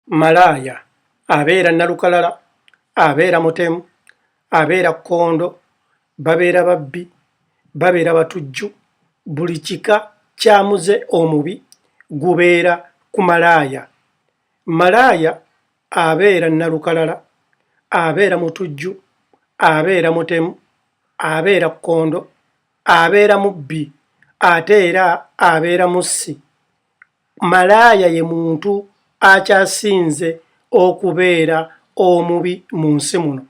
Malaaya abeera nalukalala, abeera mutemu, abeera kkondo, babeera babbi, babeera batujju, buli kika kya muze omubi gubeera ku malaaya. Malaaya abeera nalukalala, abeera mutujju, abeera mutemu, abeera kkondo, abeera mubbi ate era abeera mussi Malaaya ye muntu akyasinze okubeera omubi mu nsi muno.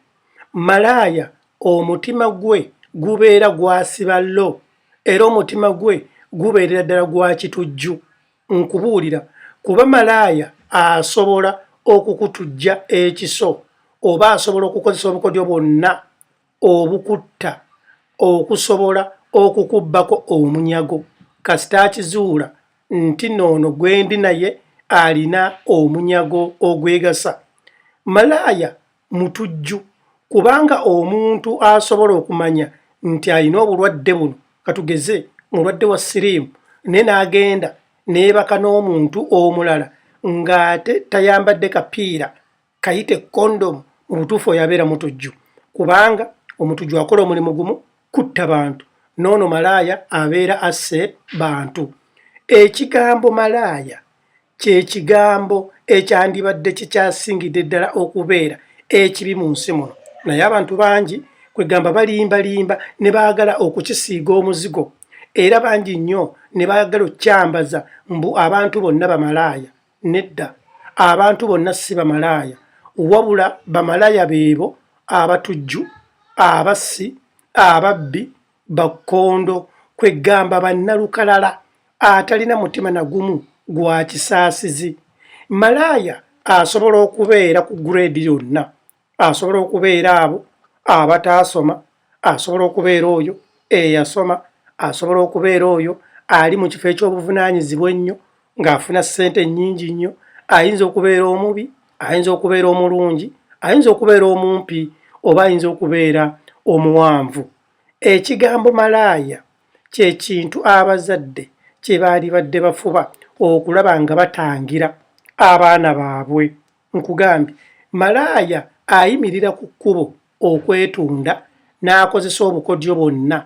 Malaaya omutima gwe gubeera gwasiba low era omutima gwe gubeerera ddala gwa kitujju. Nkubuulira kuba malaaya asobola okukutujja ekiso oba asobola okukozesa obukodyo bwonna. obukutta okusobola okukubbako omunyago kasita akizuula nti noono gwendi naye alina omunyago ogwegasa. Malaaya mutujju kubanga omuntu asobola okumanya nti alina obulwadde buno katugeze mulwadde wa siriimu ne n'agenda neebaka n'omuntu omulala ng'ate tayambadde kapiira kayite condom mu butuufu oyo abeera mutujju kubanga omutujju akola omulimu gumu kutta bantu noono malaaya abeera asse bantu ekigambo malaaya kye kigambo ekyandibadde kikyasingidde ddala okubeera ekibi mu nsi muno naye abantu bangi kwegamba balimbalimba ne baagala okukisiiga omuzigo era bangi nnyo ne baagala okukyambaza mbu abantu bonna bamalaaya Nedda, abantu bonna si bamalaaya, wabula bamalaaya beebo abatujju, abassi, ababbi, bakkondo, kweggamba bannalukalala atalina mutima na gumu gwa kisaasizi. Malaaya asobola okubeera ku grade yonna asobola okubeera abo abataasoma asobola okubeera oyo eyasoma asobola okubeera oyo ali mu kifo eky'obuvunaanyizibwa ennyo ng'afuna ssente nnyingi nnyo ayinza okubeera omubi ayinza okubeera omulungi ayinza okubeera omumpi oba ayinza okubeera omuwanvu ekigambo malaaya kye kintu abazadde kye baalibadde bafuba okulaba nga batangira abaana baabwe Nkugambye, malaaya ayimirira ku kkubo okwetunda n'akozesa obukodyo bwonna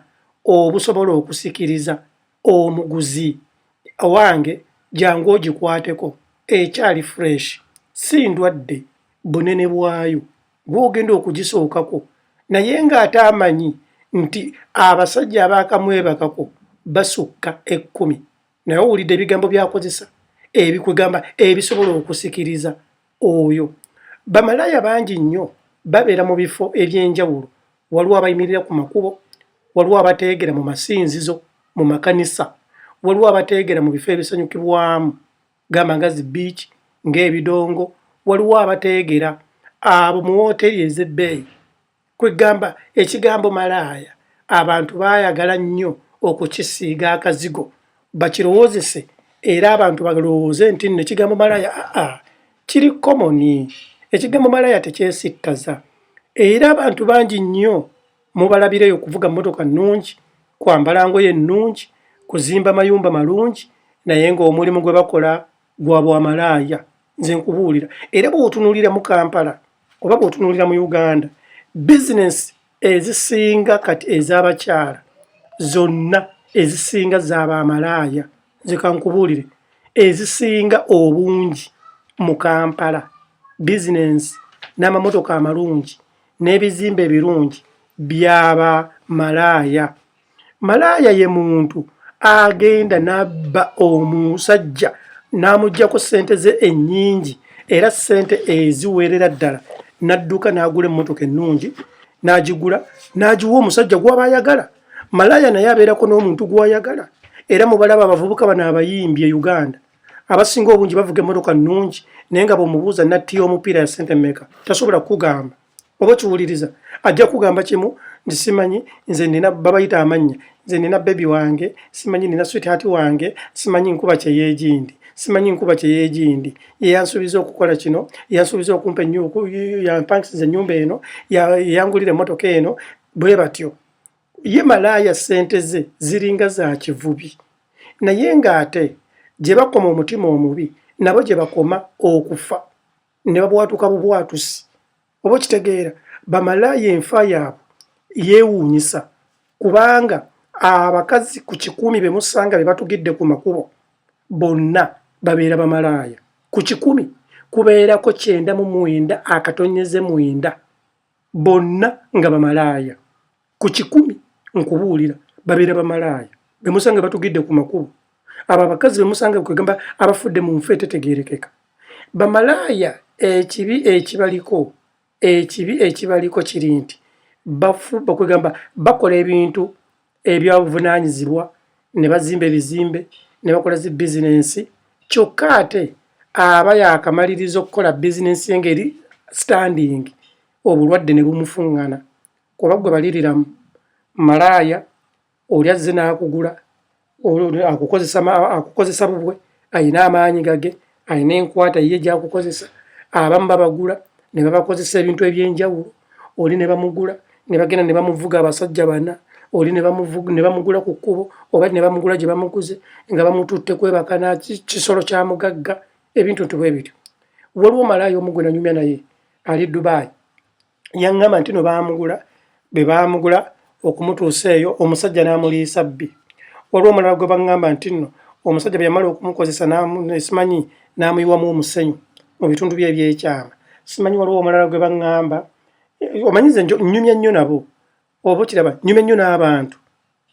obusobola okusikiriza omuguzi. Owange jangu ogikwateko ekyali fresh, si ndwadde bunene bwayo gw'ogenda okugisookako naye ng'ate amanyi nti abasajja abaakamwebakako basukka ekkumi naye owulidde ebigambo byakozesa ebikwegamba ebisobola okusikiriza oyo bamalaaya bangi nnyo babeera mu bifo eby'enjawulo waliwo abayimirira ku makubo waliwo abateegera mu masinzizo mu makanisa waliwo abateegera mu bifo ebisanyukibwamu gamba nga zi beach ng'ebidongo waliwo abateegera abo mu wooteeri ez'ebbeeyi Kwegamba ekigambo malaaya abantu baayagala nnyo okukisiiga akazigo bakirowoozese era abantu balowooze nti nno ekigambo malaaya aa kiri komoni. Ekigambo malaaya tekyesittaza era abantu bangi nnyo mubalabireyo okuvuga mmotoka nnungi, kwambala ngoye nnungi, kuzimba mayumba malungi naye ng'omulimu gwe bakola gwa bwamalaaya nze nkubuulira era bwotunulira mu kampala oba bwotunulira mu uganda bizinesi ezisinga kati ez'abakyala zonna ezisinga zabaamalaaya nze kankubuulire ezisinga obungi mu kampala bizinesi n'amamotoka amalungi n'ebizimba ebirungi byaba malaaya Malaaya ye muntu agenda n'abba omusajja n'amuggyako ssente ze ennyingi era ssente eziweerera ddala n'adduka n'agula emmotoka ennungi n'agigula n'agiwa omusajja gw'aba ayagala. Malaaya naye abeerako n'omuntu gw'ayagala era mubalaba abavubuka bano abayimbi e Uganda abasinga obungi bavuga emmotoka nnungi naye nga bw'omubuuza nattiya omupiira ya ssente meka tasobola kukugamba. oba okiwuliriza ajja kugamba kimu nti simanyi nze nina babayita amannya nze nina bebi wange simanyi nina swithati wange simanyi nkuba kyeyegindi simanyi nkuba kyeyegindi yeyansuubiza okukola kino yansuubiza okumpa yampangisiza enyumba eno yangulira emotoka eno bwe batyo ye malaaya sente ze ziringa za kivubi naye ng'ate gye bakoma omutima omubi nabo gye bakoma okufa ne babwatuka bubwatusi oba okitegeera bamalaaya enfa yaabwe yeewuunyisa kubanga abakazi ku kikumi be musanga be batugidde ku makubo bonna babeera bamalaaya ku kikumi kubeerako kyenda mu mwenda akatonyeze mwenda bonna nga bamalaaya ku kikumi nkubuulira babeera bamalaaya bemusanga batugidde ku makubo abo abakazi bemusanga kwegamba abafudde mu nfa etetegerekeka bamalaaya ekibi ekibaliko ekibi ekibaliko kiri nti bafu bakwegamba bakola ebintu ebyabuvunanyizibwa ne bazimba ebizimbe ne bakola zi bizinensi kyokka ate aba yakamaliriza okukola bizinensi engeri standing obulwadde ne bumufuŋŋana kuba gwe baliriramu malaaya oli azze n'akugula akukozesa bubwe alina amaanyi gage alina enkwata ye gyakukozesa abamu babagula ne babakozesa ebintu ebyenjawulo oli ne bamugula ne bagenda ne bamuvuga abasajja bana oli ne bamugula ku kkubo oba ne bamugula gye bamuguze nga bamututte kwebaka na kisolo kya mugagga ebintu nti bwe bityo waliwo malaaya omugwe nanyumya naye ali dubai yaŋŋamba nti no baamugula be baamugula okumutuusa eyo omusajja n'amuliisa bbi waliwo omulala gwe baŋŋamba nti nno omusajja bwe yamala okumukozesa simanyi n'amuyiwamu omusenyu mu bitundu bye ebyekyama simanyi waliwo omulala gwe baŋŋamba omanyize nnyumya nnyo nabo oba okiraba nyumya nnyo n'abantu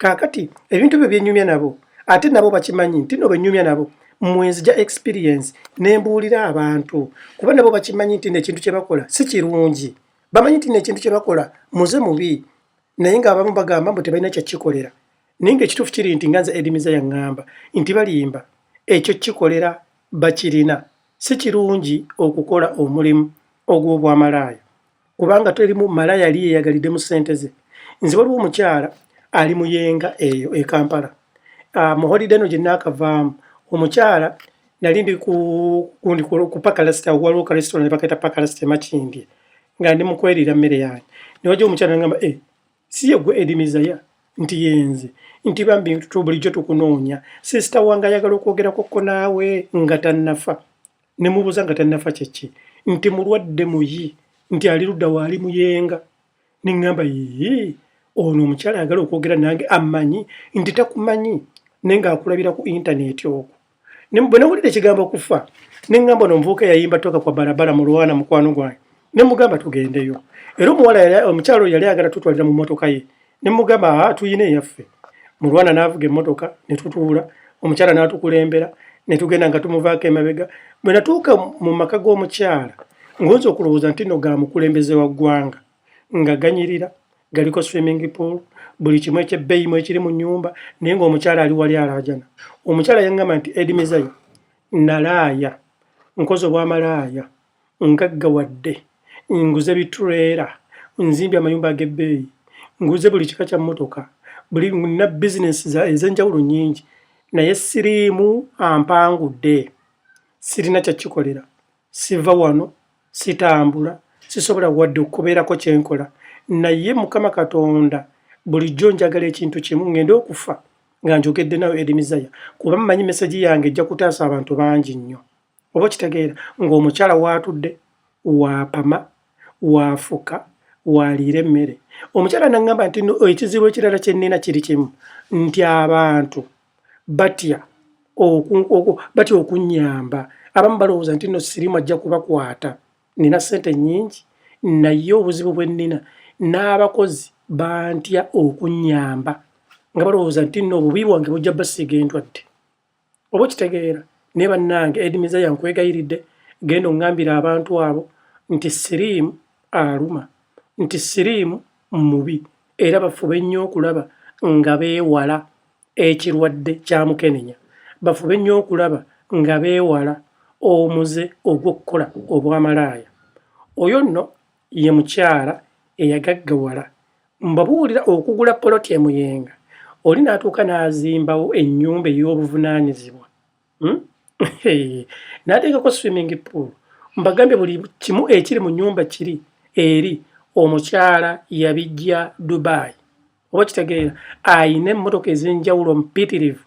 kaakati ebintu byo byenyumya nabo ate nabo bakimanyi nti no benyumya nabo mwenzija experience nembuulira abantu kuba nabo bakimanyi nti nekintu kyebakola si kirungi bamanyi nti nekintu kyebakola muze mubi naye nga abamu bagamba mbu tebalina kyakikolera naye nga ekituufu kiri nti nga nze edimiza yaŋŋamba nti balimba ekyo kikolera bakirina si kirungi okukola omulimu ogw'obwamalaaya kubanga terimu mala yali yeyagalidde mu sente ze nze waliwo omukyala ali muyenga eyo e kampala ah, mu holiday eno gyenaakavaamu omukyala nali ndi ku pakalasita waliwo ka restaurant ne bakaita pakalasita emakindye nga ndi mukwerira mmere yange newajja omukyala ngamba e eh, si yegwe edimizaya nti yenze nti bambi bulijjo tukunoonya sisita wange ayagala okwogerakokko naawe nga tannafa ne mubuuza nga tannafa kye ki nti mulwadde muyi nti ali ludda waali muyenga ne ŋŋamba yii ono omukyala ayagala okwogera nange amanyi nti takumanyi naye ng'akulabira ku intaneeti okwo bwe nawulira ekigambo kufa ne ŋŋamba ono omuvubuka yayimba toka kwa barabara mu lwana mukwano gwange ne mugamba tugendeyo era omuwala omukyalo yali agala tutwalira mu mmotoka ye ne mugamba ah, tuyina eyaffe mulwana n'avuga emmotoka ne tutuula omukyala n'atukulembera ne tugenda nga tumuvaako emabega bwe natuuka mu maka g'omukyala ng'oyinza okulowooza nti no ga mukulembeze wa ggwanga nga ganyirira galiko swimming pool buli kimu ekyebbeeyi mu ekiri mu nnyumba naye ng'omukyala ali wali alaajana omukyala yaŋŋamba nti edimizayo nalaaya nkoze obwamalaaya Ngaggawadde, nguze bittuleera, nzimbye amayumba ag'ebbeeyi, nguze buli kika kya mmotoka, buli nina bizinensi ez'enjawulo nnyingi naye siriimu ampangudde, sirina kya kikolera, siva wano, sitambula, sisobola wadde okubeerako kye nkola, naye Mukama Katonda bulijjo njagala ekintu kimu ngende okufa nga njogedde nawe Erimizaya kuba mmanyi mesegi yange ejja kutaasa abantu bangi nnyo. oba okitegeera ng'omukyala waatudde waapama waafuka waaliira emmere omukyala naŋŋamba nti no ekizibu ekirala kye nnina kiri kimu nti abantu batya batya okunnyamba abamu balowooza nti no sirimu ajja kubakwata nnina ssente nnyingi naye obuzibu bwe nnina n'abakozi bantya okunnyamba nga balowooza nti no obubi bwange bujja basiiga endwadde oba okitegeera naye bannange edi mizaya nkwegayiridde genda ongambira abantu abo nti siriimu aluma nti siriimu mubi era bafube nnyo okulaba nga beewala ekirwadde kya mukenenya bafube nnyo okulaba nga beewala omuze ogw'okukola obwamalaaya oyo nno ye mukyala eyagaggawala mbabuulira okugula poloti e Muyenga oli n'atuuka n'azimbawo ennyumba ey'obuvunaanyizibwa hmm? n'ateekako swimming pool mbagambye buli kimu ekiri mu nnyumba kiri eri omukyala yabijja Dubai oba kitegeera ayina emmotoka ez'enjawulo mpitirivu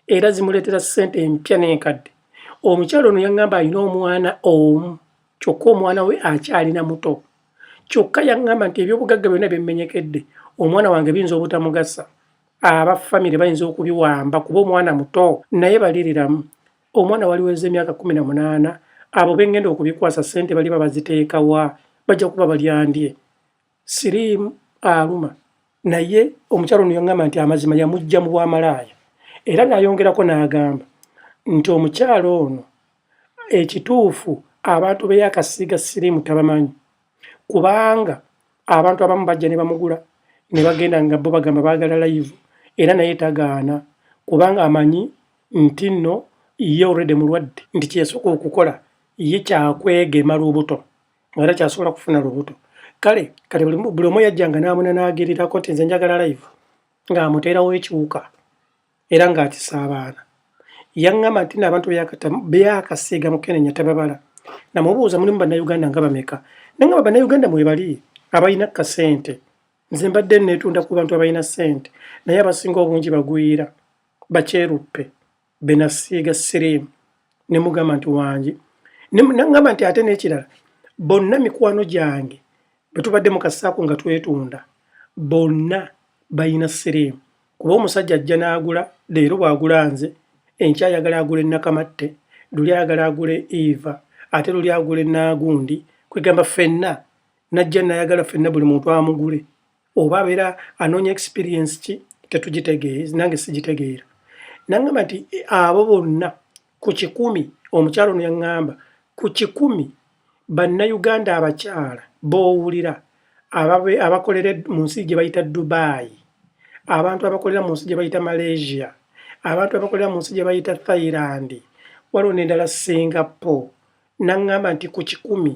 era zimuleetera ssente empya n'enkadde omukyala ono yaŋŋamba alina omwana omu kyokka omwana we akyalina muto kyokka yaŋŋamba nti ebyobugagga byonna byemmenyekedde omwana wange biyinza obutamugasa aba famire bayinza okubiwamba kuba omwana muto naye baliriramu omwana waliweza emyaka kumi na munaana abo bengenda okubikwasa ssente baliba baziteekawa bajja kuba balyandye siriimu aluma naye omukyalo ono yaŋŋamba nti amazima yamujja mu bwamalaaya era nayongerako n'agamba nti omukyalo ono ekituufu abantu beyakasiiga siriimu tabamanyi kubanga abantu abamu bajja ne bamugula ne bagenda nga bo bagamba baagala layivu era naye tagaana kubanga amanyi nti nno ye olredi mulwadde nti kyesooka okukola ye kyakwegema lubuto era kyasobola kufuna lubuto kale kati buli omu yajjanga n'amuna n'agerirako nti nze njagala live ng'amuteerawo ekiwuka era ng'akisa abaana yaŋŋamba nti n'abantu byakasiiga mukenenya tababala namubuuza mulimu bannayuganda nga bameka naye nga bannayuganda mwebali abalina kasente nze mbadde neetunda ku bantu abalina ssente naye abasinga obungi bagwira bakyeruppe benasiiga siriimu ne mugamba nti wangi nangamba nti ate n'ekirala bonna mikwano gyange bwe tubadde mu kasaako nga twetunda bonna balina siriimu kuba omusajja ajja n'agula leero bw'agula nze enkya ayagala agula ennakamatte luli ayagala agula eva ate luli agula enaagundi kwegamba ffenna najja nayagala ffenna buli muntu amugule oba abeera anoonya experience ki tetugitegeere nange sigitegeera nangamba nti abo bonna ku kikumi omukyalo ono yaŋŋamba ku kikumi bannayuganda abakyala b'owulira abakolera mu nsi gye bayita dubai abantu abakolera mu nsi gye bayita malaysia abantu abakolera mu nsi gye bayita thailand waliwo n'endala singapore N'aŋŋamba nti, Ku kikumi,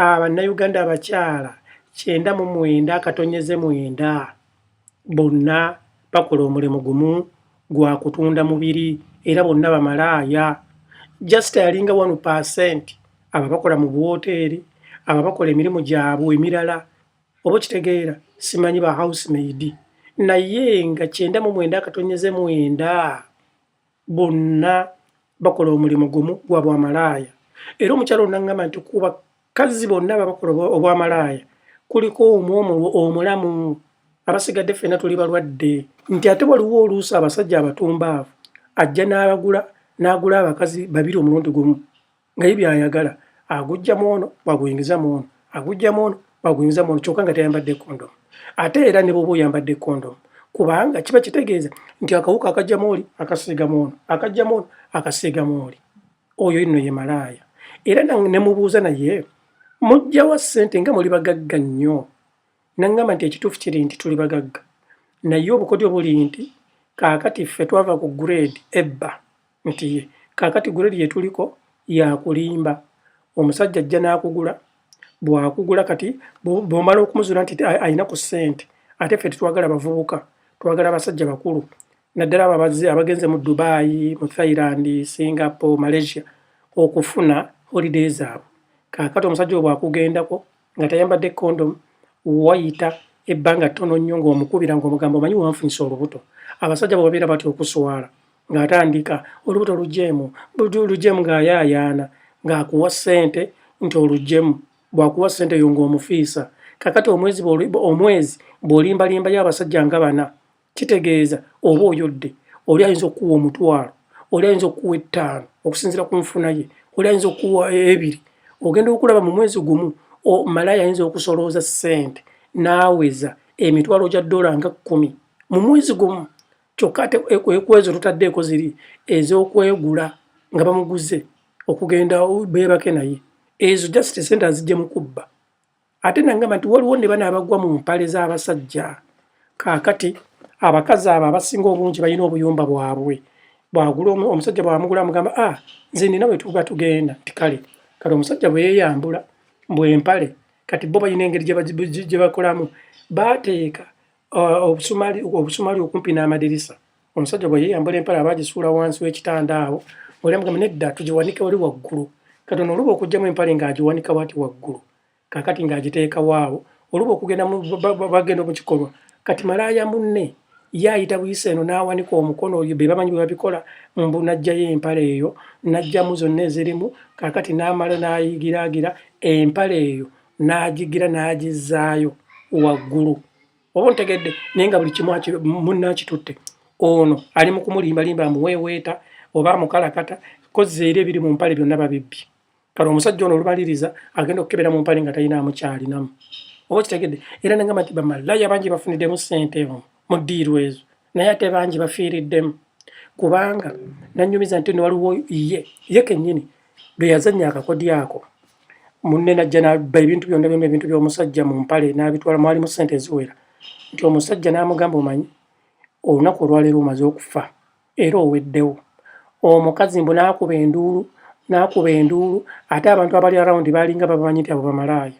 a, Bannayuganda abakyala kyenda mu mwenda akatonnyeze mwenda bonna bakola omulimu gumu, gwa kutunda mubiri, era bonna bamalaaya. Just alinga one percent abo abakola mu buwooteeri, abo abakola emirimu gyabwe emirala, oba okitegeera, simanyi, ba housemaid, naye nga kyenda mu mwenda akatonnyeze mwenda bonna bakola omulimu gumu gwa bwamalaaya era omukyala onangamba nti kuba kazzi bonna babakola obwamalaaya kuliko omu omulamu abasigadde ffena tuli balwadde nti ate waliwo oluusi abasajja abatumbaavu ajja n'abagula n'agula abakazi babiri omulundi gumu nga ye byayagala agujja mu ono bwaguyingiza mu ono agujja mu ono bwaguyingiza mu ono kyokka nga tayambadde kondomu ate era ne bwoba oyambadde kondomu kubanga kiba kitegeeza nti akawuka akajjamu oli akasiigamu ono akajjamu ono akasiigamu oli oyo inno ye malaaya era ne mubuuza naye mujjawa ssente nga muli bagagga nnyo naŋŋamba nti ekituufu kiri nti tuli bagagga naye obukodyo buli nti kaakati ffe twava ku grade ebba nti kaakati guleedi gye tuliko yakulimba, omusajja ajja n'akugula, bw'akugula kati bw'omala okumuzuula nti alina ku ssente, ate ffe tetwagala bavubuka, twagala abasajja bakulu, naddala abo abagenze mu Dubai, mu Thailand, Singapore, Malaysia okufuna holiday zaabwe. Kaakati omusajja obwo akugendako nga tayambadde condom wayita ebbanga ttono nnyo ng'omukubira ng'omugamba omanyi wanfunyisa olubuto abasajja bwebabeera batya okuswala ng'atandika olubuto lujeemu lujeemu ng'ayaayaana ng'akuwa ssente nti olujeemu bwakuwa ssente yo ng'omufiisa kakati omwezi omwezi bw'olimbalimbayo abasajja nga bana kitegeeza oba oyodde oli ayinza okukuwa omutwalo oli ayinza okukuwa ettaano okusinzira ku nfuna ye oli ayinza okukuwa ebiri ogenda okulaba mu mwezi gumu malaya ayinza okusolooza ssente n'aweza emitwalo gya ddola nga kkumi mu mwezi gumu kyokka ate e, e, ekwezo tutaddeeko ziri ez'okwegula nga bamuguze okugenda beebake naye ezo just sente azijja mu kubba ate nangamba nti waliwo ne bana abagwa mu mpale z'abasajja kaakati abakazi abo abasinga obungi balina obuyumba bwabwe bwagula omusajja bwamugula amugamba a ah, nze nina wetuba tugenda nti kale kati omusajja bwe yeyambula mbwempale kati bo balina engeri gye bakolamu bateeka uh, obusumali okumpi n'amadirisa Omusajja bwe yeeyambula empale aba agisuula wansi w'ekitanda awo, oli amugamba nedda, tugiwanike wali waggulu. Katonda oluba okugyamu empale ng'agiwanika wati waggulu, kaakati ng'agiteekawo awo, oluba okugenda bagenda mu kikolwa. Kati malaaya munne ye ayita buyisa eno n'awanika omukono, oyo be bamanyi bwe babikola, mbu n'aggyayo empale eyo, n'aggyamu zonna ezirimu, kaakati n'amala n'ayigiraagira empale eyo n'agigira n'agizzaayo waggulu. oba ontegedde naye nga buli kimu munna akitutte ono ali mu kumulimbalimba amuweeweeta oba amukalakata kozza era ebiri mu mpale byonna babibbi kale omusajja ono olubaliriza agenda okukebera mu mpale nga talina amukyalinamu oba kitegedde era nengamba nti bamalaya bangi bafunidemu ssente mu ddiiru ezo naye ate bangi bafiiriddemu kubanga nanyumiza nti newaliwo ye ye kenyini lwe yazannya akakodyo ako munne najja naba ebintu byonna byonna ebintu by'omusajja mu mpale n'abitwala mwalimu ssente eziwera nti omusajja n'amugamba omanyi olunaku olwaleero omaze okufa era oweddewo omukazi mbu n'akuba enduulu n'akuba enduulu ate abantu abali arawundi baalinga babamanyi nti abo bamalaaya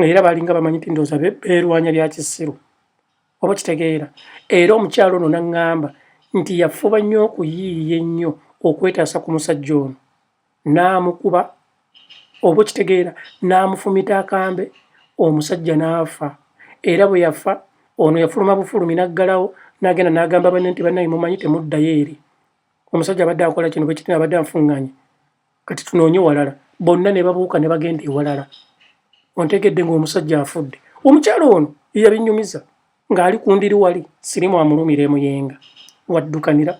era baalinga bamanyi nti ndooza beerwanya bya kisiru oba kitegeera era omukyalo ono naŋŋamba nti yafuba nnyo okuyiiya ennyo okwetaasa ku musajja ono n'amukuba oba okitegeera n'amufumita akambe omusajja n'afa era bwe yafa ono yafuluma bufulumi n'aggalawo n'agenda n'agamba banne nti bannange mumanyi temuddayo eri omusajja abadde akola kino bwe kiti abadde anfuŋŋanye Kati tunoonye walala. Bonna ne babuuka ne bagenda ewalala. Ontegedde ng'omusajja afudde. Omukyala ono ye yabinyumiza ng'ali ku ndiri wali sirimu amulumira e Muyenga. W'addukanira,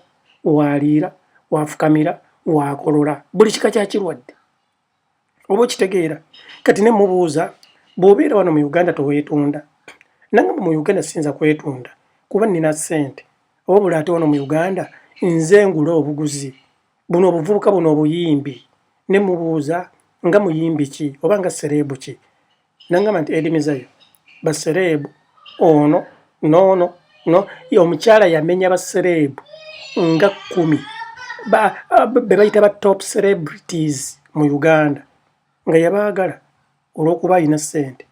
w'aliira, w'afukamira, w'akolola buli kika kya kirwadde. Oba okitegeera. Kati ne mmubuuza bw'obeera wano mu Uganda toweetunda? N'angamba mu Uganda siyinza kwetunda kuba nnina ssente. Wabula ate wano mu Uganda nze ngula obuguzi buno obuvubuka buno obuyimbi ne mubuuza nga muyimbi ki oba nga sereebu ki nangamba nti edimizayo basereebu ono noono no omukyala yamenya basereebu nga kumi be bayita ba top celebrities mu uganda nga yabaagala olw'okuba alina ssente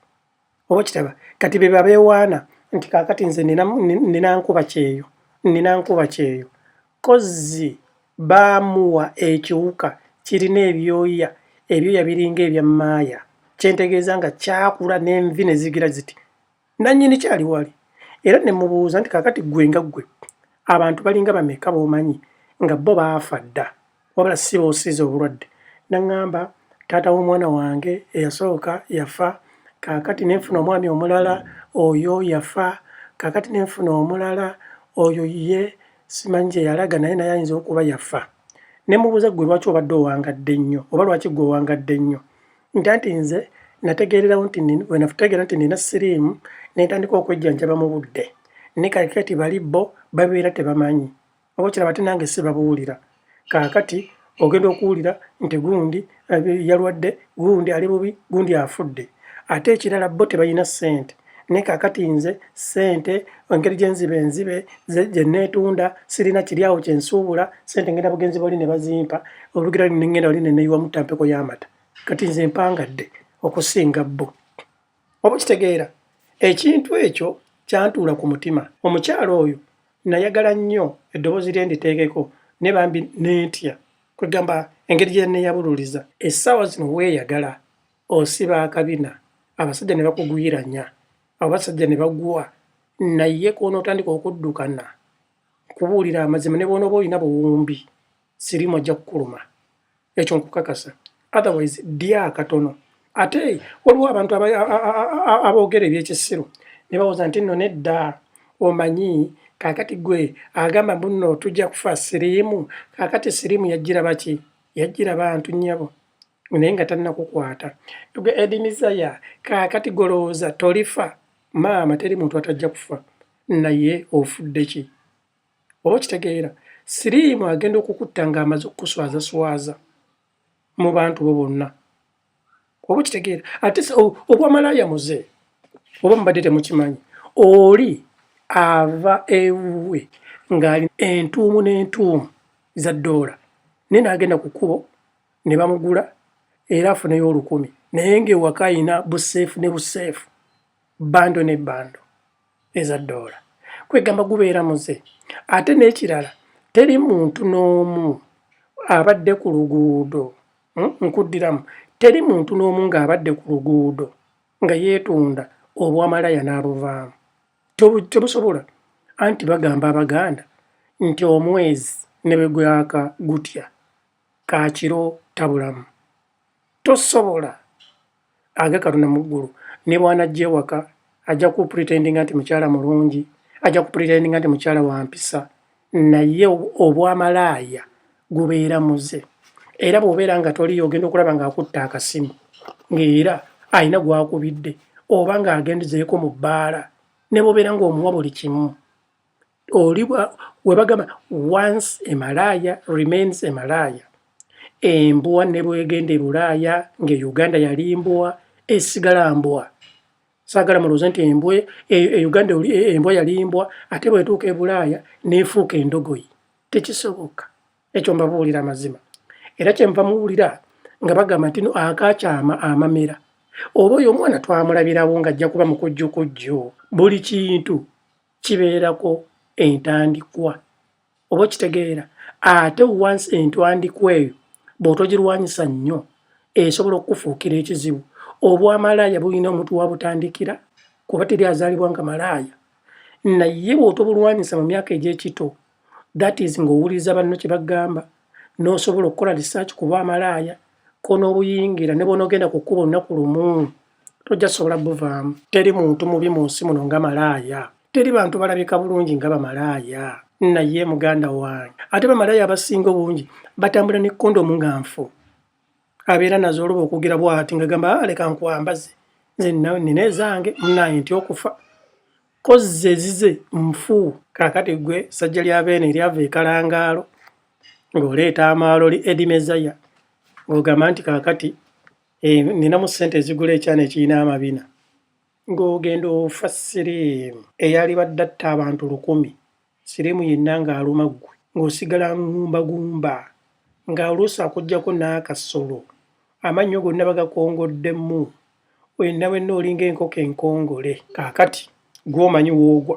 oba kitaba kati bebe abewaana nti kakati nze nina nkuba kyeyo nina nkuba kyeyo kozzi baamuwa ekiwuka kirina ebyoya ebyoya biringa ebya maaya kyentegeeza nga kyakula nenvi nezigira ziti nanyini kyali wali era nemubuuza nti kakati gwe nga gwe abantu balinga bameka bomanyi nga bo baafa dda wabula si buusizi obulwadde. N'aŋŋamba, Taata w'omwana wange eyasooka yafa, kaakati ne nfuna omwami omulala, oyo yafa, kaakati ne nfuna omulala, oyo ye, simanyi gye yalaga, naye naye ayinza okuba yafa. Ne mmubuuza, Ggwe lwaki obadde owangadde nnyo? Oba lwaki ggwe owangadde nnyo? Nti anti nze nategeererawo nti nina, bwe nategeera nti nina siriimu, ne ntandika okwejjanjaba mu budde. Ne kaakati bali bo babeera tebamanyi. oba okiraba ate nange sibabuwulira kaakati ogenda okuwulira nti gundi eh, yalwadde gundi ali bubi gundi afudde ate ekirala bo tebalina ssente naye kaakati nze ssente engeri gyenziba enzibe gyeneetunda sirina kiri awo kyensuubula ssente ngenda bugenzi bali ne bazimpa olugira nengenda wali neneyiwamu tampeko y'amata kati nze mpangadde okusinga bo Oba okitegeera, ekintu ekyo kyantuula ku mutima. Omukyala oyo nnayagala nnyo eddoboozi lye nditeekeko, naye bambi ne ntya, kwe ggamba, engeri gye yanneeyabululiza. Essaawa zino weeyagala, osiba akabina, abasajja ne bakugwiranya, abasajja ne bagwa, naye kw'onootandika okuddukana, nkubuulire amazima, ne bw'onooba olina buwumbi, sirimu ojja kukuluma ekyo nkukakasa otherwise dya katono ate waliwo abantu aboogera ebyekisiru ne bawoza nti nno nedda omanyi kakati gwe agamba bunno tujja kufa siriimu kakati siriimu yajjira baki yajjira bantu nnyabo naye nga tannakukwata gwe edimizaya kakati golowooza tolifa maama teri muntu atajja kufa naye ofudde ki oba okitegeera siriimu agenda okukutta ng'amaze okukuswazaswaza mu bantu bo bonna oba okitegeera ate obwamalaaya muze oba mubadde temukimanyi oli ava ewuwe ng'ali entuumu n'entuumu za ddoola naye n'agenda ku kkubo ne bamugula era afuneyo olukumi naye ng'ewaka alina buseefu ne buseefu bando ne bando eza ddoola kwegamba gubeera muze ate n'ekirala teri muntu n'omu abadde ku luguudo hmm, nkuddiramu teri muntu n'omu ng'abadde ku luguudo nga yeetunda obwamalaya n'abuvaamu tebusobola anti bagamba abaganda nti omwezi ne bwe gwaka gutya ka kiro tabulamu. Tosobola. Age Katonda mu ggulu ne bw'anajja ewaka ajja kupretendinga nti mukyala mulungi, ajja kupretendinga nti mukyala wa mpisa, naye obwamalaaya gubeera muze. Era bw'obeera nga toliyo ogenda okulaba ng'akutte akasimu ng'era alina gw'akubidde oba ng'agenzeeko mu bbaala ne bw'obeera ng'omuwa buli kimu. oli webagamba once emalaaya remains emalaaya embwa ne bwegenda ebulaaya nga e uganda yali mbwa esigala mbwa sagala mulooze nti embwa e, e uganda e, embwa yali mbwa ate bwetuuka ebulaaya nefuuka endogoyi tekisoboka ekyo mbabuulira amazima era kyenva muwulira nga bagamba nti no akakyama amamera oba oyo omwana twamulabirawo ng'ajja kuba mukujjukujju buli kintu kibeerako entandikwa oba okitegeera ate once entwandikwa eyo bw'otogirwanyisa nnyo esobola okukufuukira ekizibu obwamalaaya bulina omuntu wabutandikira kuba teri azaalibwa nga malaaya naye bw'otobulwanyisa mu myaka egy'ekito that is ng'owuliriza banno kye bagamba n'osobola okukola research kuba amalaaya konoobuyingira ne bwonoogenda ku kkuba olunaku lumu tojja sobola buvaamu teri muntu mubi mu nsi muno nga malaaya teri bantu balabika bulungi nga bamalaaya naye muganda wange ate bamalaaya abasinga obungi batambula ne kondomu nga nfu abeera nazo oluba okwogera bwati nga gamba ah, leka nkwambaze nze nina ezange munaye nti okufa kozze ezize nfu kakati gwe sajja lya beene eryava ekalangaalo ng'oleeta amaalo li edimezaya ng'ogamba nti kakati eh, nina mu ssente ezigula ekyana ekirina amabina ng'ogenda ofa siriimu eyalibadde atta abantu lukumi Siriimu yenna ng'aluma ggwe ng'osigala ngumbagumba nga oluusi akuggyako n'akasolo, amannyo gonna bagakongoddemu, wenna wenna olinga enkoko enkongole. Kaakati, ggwe omanyi w'ogwa.